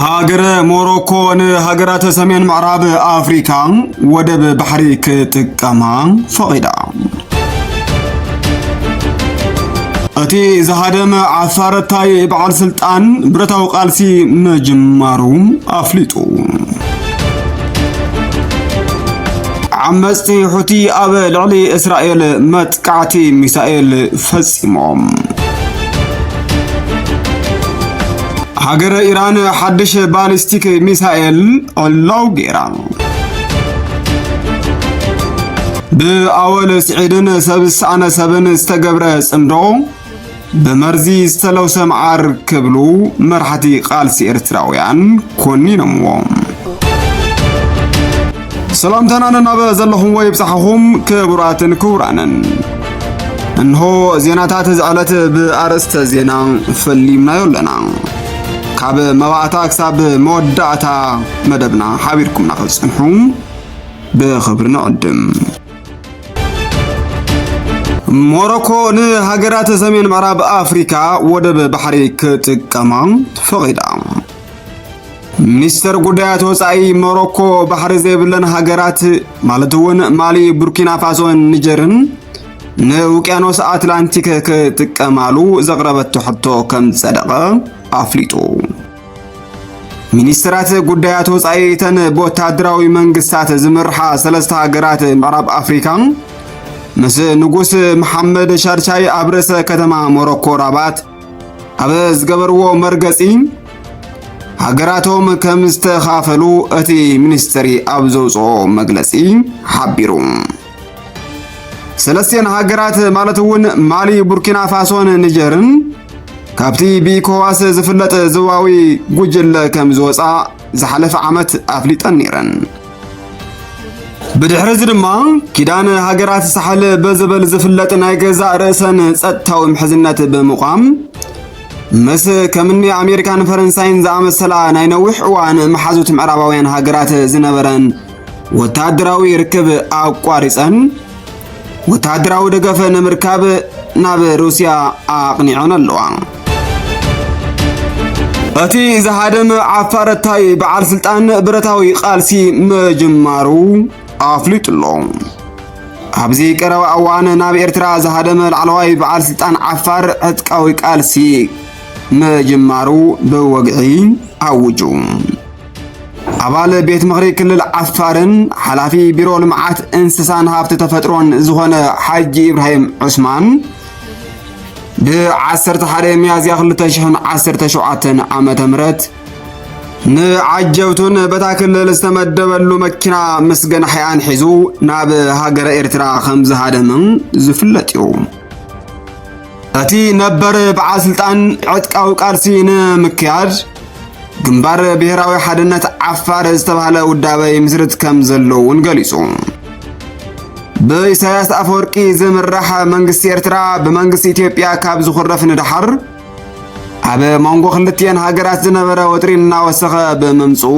ሃገረ ሞሮኮ ንሃገራት ሰሜን ምዕራብ ኣፍሪካ ወደብ ባሕሪ ክጥቀማ ፈቒዳ። እቲ ዝሃደመ ዓፋረታይ በዓል ስልጣን ብረታዊ ቃልሲ ምጅማሩ ኣፍሊጡ። ዓመፅቲ ሑቲ ኣብ ልዕሊ እስራኤል መጥ መጥቃዕቲ ሚሳኤል ፈጺሞም። ሃገረ ኢራን ሓድሽ ባሊስቲክ ሚሳኤል ዕላው ገይራ። ብኣወል ስዒድን ሰብ ዝሰኣነ ሰብን ዝተገብረ ጽምዶ ብመርዚ ዝተለውሰ መዓር ክብሉ መራሕቲ ቃልሲ ኤርትራውያን ኮኒኖምዎ። ሰላምታና ነናበ ዘለኹምዎ ይብጻሕኹም ክቡራትን ክቡራንን። እንሆ ዜናታት እዚ ዕለት ብኣርእስተ ዜና ፈሊምናዮ ኣለና። ካብ መባእታ ክሳብ መወዳእታ መደብና ሓቢርኩምና ክትጽንሑ ብኽብሪ ንዕድም። ሞሮኮ ንሃገራት ሰሜን ምዕራብ ኣፍሪካ ወደብ ባሕሪ ክጥቀማ ፈቒዳ። ሚኒስተር ጉዳያት ወፃኢ ሞሮኮ ባሕሪ ዘይብለን ሃገራት ማለት እውን ማሊ፣ ቡርኪና ፋሶን ኒጀርን ንውቅያኖስ ኣትላንቲክ ክጥቀማሉ ዘቕረበቶ ሕቶ ከም ጸደቐ ኣፍሊጡ። ሚኒስትራት ጉዳያት ወጻኢ እተን ብወታደራዊ መንግስታት ዝምርሓ ሰለስተ ሃገራት ምዕራብ ኣፍሪካ ምስ ንጉስ መሓመድ ሻድሻይ ኣብ ርእሰ ከተማ ሞሮኮ ራባት ኣብ ዝገበርዎ መርገጺ ሃገራቶም ከም ዝተኻፈሉ እቲ ሚኒስትሪ ኣብ ዘውፅኦ መግለጺ ሓቢሩ። ሰለስቲኤን ሃገራት ማለት እውን ማሊ፣ ቡርኪና ፋሶን ኒጀርን ካብቲ ብኢኮዋስ ዝፍለጥ ዝዋዊ ጉጅለ ከም ዝወፅኣ ዝሓለፈ ዓመት ኣፍሊጠን ነይረን። ብድሕሪ እዚ ድማ ኪዳን ሃገራት ሳሕል በዝበል ዝፍለጥ ናይ ገዛእ ርእሰን ጸጥታዊ ምሕዝነት ብምቋም ምስ ከምኒ ኣሜሪካን ፈረንሳይን ዝኣመሰላ ናይ ነዊሕ እዋን መሓዙት ምዕራባውያን ሃገራት ዝነበረን ወተሃደራዊ ርክብ ኣቋሪጸን ወተሃደራዊ ደገፈ ንምርካብ ናብ ሩስያ ኣቕኒዐን ኣለዋ። እቲ ዝሃደመ ዓፋረታይ በዓል ስልጣን ብረታዊ ቃልሲ ምጅማሩ ኣፍሊጡ ኣሎ። ኣብዚ ቀረባ እዋን ናብ ኤርትራ ዝሃደመ ላዕለዋይ በዓል ስልጣን ዓፋር ዕጥቃዊ ቃልሲ ምጅማሩ ብወግዒ ኣውጁ። ኣባል ቤት ምኽሪ ክልል ዓፋርን ሓላፊ ቢሮ ልምዓት እንስሳን ሃብቲ ተፈጥሮን ዝኾነ ሓጂ ኢብራሂም ዑስማን ብ11 ሚያዝያ 2017 ዓ ም ንዓጀብቱን በታ ክልል ዝተመደበሉ መኪና ምስ ገናሕያን ሒዙ ናብ ሃገረ ኤርትራ ከም ዝሃደምን ዝፍለጥ እዩ እቲ ነበር በዓል ስልጣን ዕጥቃዊ ቃልሲ ንምክያድ ግንባር ብሔራዊ ሓድነት ዓፋር ዝተባህለ ውዳበ ይምስርት ከም ዘለዉ እውን ገሊጹ። ብኢሳያስ ኣፈወርቂ ዝምራሕ መንግስቲ ኤርትራ ብመንግስቲ ኢትዮጵያ ካብ ዝኹረፍ ንደሓር ኣብ መንጎ ክልትኤን ሃገራት ዝነበረ ወጥሪ እናወሰኸ ብምምፅኡ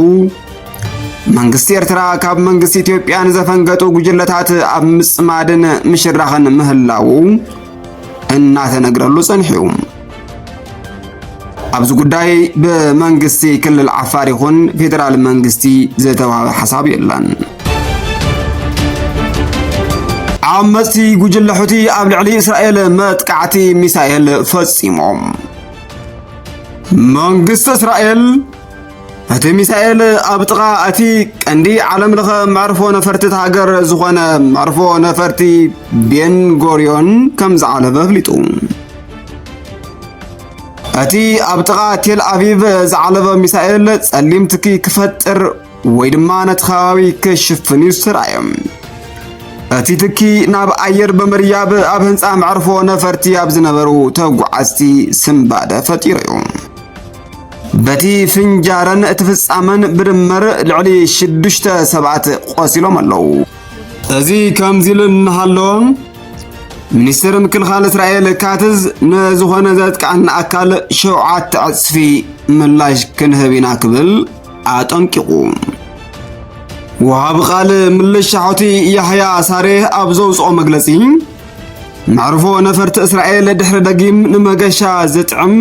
መንግስቲ ኤርትራ ካብ መንግስቲ ኢትዮጵያ ንዘፈንገጡ ጉጅለታት ኣብ ምጽማድን ምሽራኽን ምህላዉ እናተነግረሉ ጸኒሑ። ኣብዚ ጉዳይ ብመንግስቲ ክልል ዓፋር ይኹን ፌዴራል መንግስቲ ዝተዋሃበ ሓሳብ የለን። ዓመፅቲ ጉጅለ ሑቲ ኣብ ልዕሊ እስራኤል መጥቃዕቲ ሚሳኤል ፈፂሞም። መንግስቲ እስራኤል እቲ ሚሳኤል ኣብ ጥቓ እቲ ቀንዲ ዓለም ለኸ መዕርፎ ነፈርቲ ሃገር ዝኾነ መዕርፎ ነፈርቲ ቤንጎርዮን ከም ዝዓለበ ኣፍሊጡ። እቲ ኣብ ጥቓ ቴል ኣቪቭ ዝዓለበ ሚሳኤል ጸሊም ትኪ ክፈጥር ወይ ድማ ነቲ ከባቢ ክሽፍን እዩ ዝተራእየ። እቲ ትኪ ናብ ኣየር ብምርያብ ኣብ ህንፃ መዕርፎ ነፈርቲ ኣብ ዝነበሩ ተጓዓዝቲ ስንባደ ፈጢሩ እዩ። በቲ ፍንጃረን እቲ ፍጻመን ብድምር ልዕሊ ሽዱሽተ ሰባት ቆሲሎም ኣለዉ። እዚ ከምዚ ኢሉ እናሃለወ ሚኒስትር ምክልኻል እስራኤል ካትዝ ንዝኾነ ዘጥቃዕና ኣካል ሸውዓተ ዕጽፊ ምላሽ ክንህብ ኢና ክብል ኣጠንቂቑ። ወሃቢ ቃል ምልሻ ሑቲ ያሕያ ሳሬህ ኣብ ዘውፅኦ መግለፂ መዕርፎ ነፈርቲ እስራኤል ድሕሪ ደጊም ንመገሻ ዝጥዕም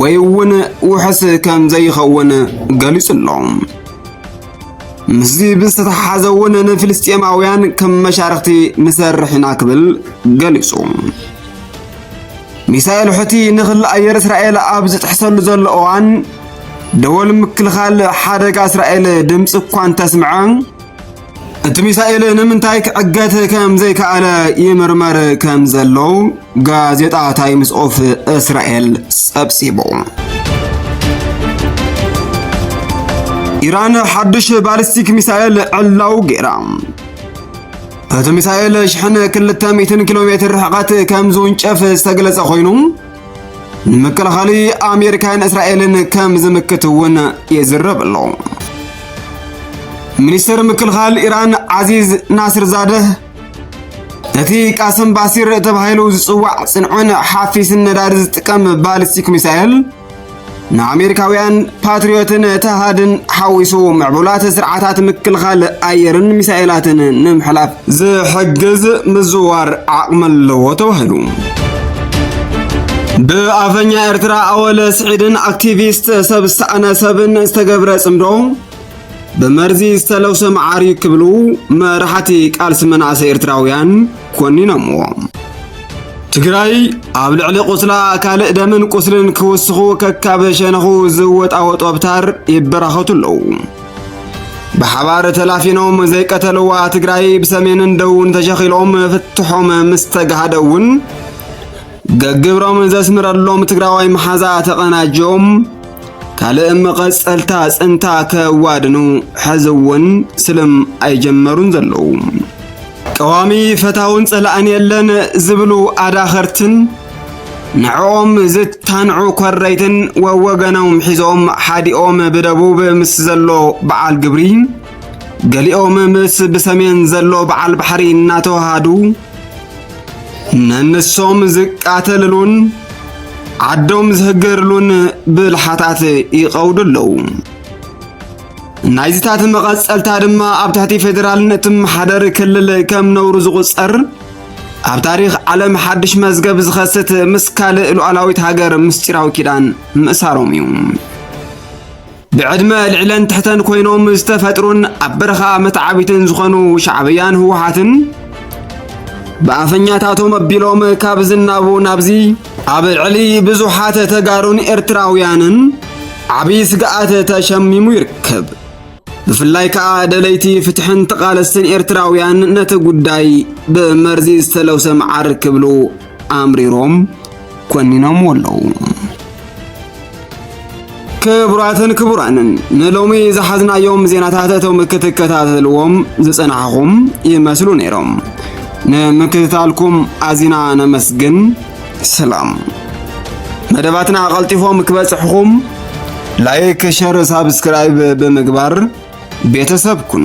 ወይ እውን ውሕስ ከም ዘይኸውን ገሊጹ ኣሎ። ምስዚ ብዝተተሓሓዘ እውን ንፍልስጤማውያን ከም መሻርኽቲ ንሰርሕ ኢና ክብል ገሊጹ። ሚሳኤል ሑቲ ንክሊ ኣየር እስራኤል ኣብ ዝጥሕሰሉ ዘሎ እዋን ደወል ምክልኻል ሓደጋ እስራኤል ድምፂ እኳ እንተስምዐ እቲ ሚሳኤል ንምንታይ ክዕገት ከም ዘይከኣለ ይምርመር ከም ዘሎ ጋዜጣ ታይምስ ኦፍ እስራኤል ጸብጺቡ። ኢራን ሓድሽ ባሊስቲክ ሚሳኤል ዕላው ገይራ። እቲ ሚሳኤል ሽሕን ክልተ ሚእትን ኪሎ ሜትር ርሕቐት ከም ዝውንጨፍ ዝተገለጸ ኮይኑ ንምክልኻል ኣሜሪካን እስራኤልን ከም ዝምክት እውን ይዝረብ ኣሎ። ሚኒስትር ምክልኻል ኢራን ዓዚዝ ናስር ዛደህ እቲ ቃስም ባሲር ተባሂሉ ዝጽዋዕ ጽንዑን ሓፊስን ነዳዲ ዝጥቀም ባሊስቲክ ሚሳኤል ንኣሜሪካውያን ፓትሪዮትን ተሃድን ሓዊሱ ምዕቡላት ስርዓታት ምክልኻል ኣየርን ሚሳኤላትን ንምሕላፍ ዝሕግዝ ምዝዋር ዓቕሚ ኣለዎ ተባሂሉ። ብኣፈኛ ኤርትራ ኣወለ ስዒድን ኣክቲቪስት ሰብ ዝተኣነ ሰብን ዝተገብረ ጽምዶ ብመርዚ ዝተለውሰ መዓር እዩ ክብሉ መራሕቲ ቃልሲ መናእሰይ ኤርትራውያን ኮኒኖምዎ። ትግራይ ኣብ ልዕሊ ቁስላ ካልእ ደምን ቁስልን ክውስኹ ከካብ ሸነኹ ዝወጣወጡ ኣብታር ይበራኸቱ ኣለዉ። ብሓባር ተላፊኖም ዘይቀተልዋ ትግራይ ብሰሜንን ደቡብን ተሸኺሎም ፍትሖም ምስ ተጋሃደ እውን ገግብሮምን ዘስምረሎም ትግራዋይ መሓዛ ተቐናጅዮም ካልእ መቐጸልታ ጽንታ ከዋድኑ ሕዚ እውን ስልም ኣይጀመሩን ዘለዉ ቀዋሚ ፈታውን ጸላእን የለን ዝብሉ ኣዳኸርትን ንዕኦም ዝታንዑ ኮረይትን ወወገኖም ሒዞም ሓዲኦም ብደቡብ ምስ ዘሎ በዓል ግብሪ ገሊኦም ምስ ብሰሜን ዘሎ በዓል ባሕሪ እናተዋሃዱ ነንሶም ዝቃተልሉን ዓዶም ዝህገርሉን ብልሓታት ይቐውዱ ኣለዉ ናይዝታት መቐጸልታ ድማ ኣብ ትሕቲ ፌዴራልነት መሓደር ክልል ከም ነውሩ ዝቝጸር ኣብ ታሪኽ ዓለም ሓድሽ መዝገብ ዝኸስት ምስ ካልእ ሉዓላዊት ሃገር ምስጢራዊ ኪዳን ምእሳሮም እዩ ብዕድመ ልዕለን ትሕተን ኮይኖም ዝተፈጥሩን ኣብ በረኻ መተዓቢትን ዝኾኑ ሻዕብያን ህወሓትን ብኣፈኛታቶም ኣቢሎም ካብ ዝናቡ ናብዚ ኣብ ልዕሊ ብዙሓት ተጋሩን ኤርትራውያንን ዓብዪ ስግኣት ተሸሚሙ ይርከብ። ብፍላይ ከዓ ደለይቲ ፍትሕን ተቓለስትን ኤርትራውያን ነቲ ጉዳይ ብመርዚ ዝተለውሰ መዓር ክብሉ ኣምሪሮም ኮኒኖምዎ ኣለዉ። ክቡራትን ክቡራንን ንሎሚ ዝሓዝናዮም ዜናታት እቶም ክትከታተልዎም ዝጸናሕኹም ይመስሉ ነይሮም። ንምክትታልኩም ኣዚና ነመስግን። ሰላም። መደባትና ቀልጢፎም ክበጽሕኹም ላይክ፣ ሸር፣ ሳብስክራይብ ብምግባር ቤተሰብ ኩኑ።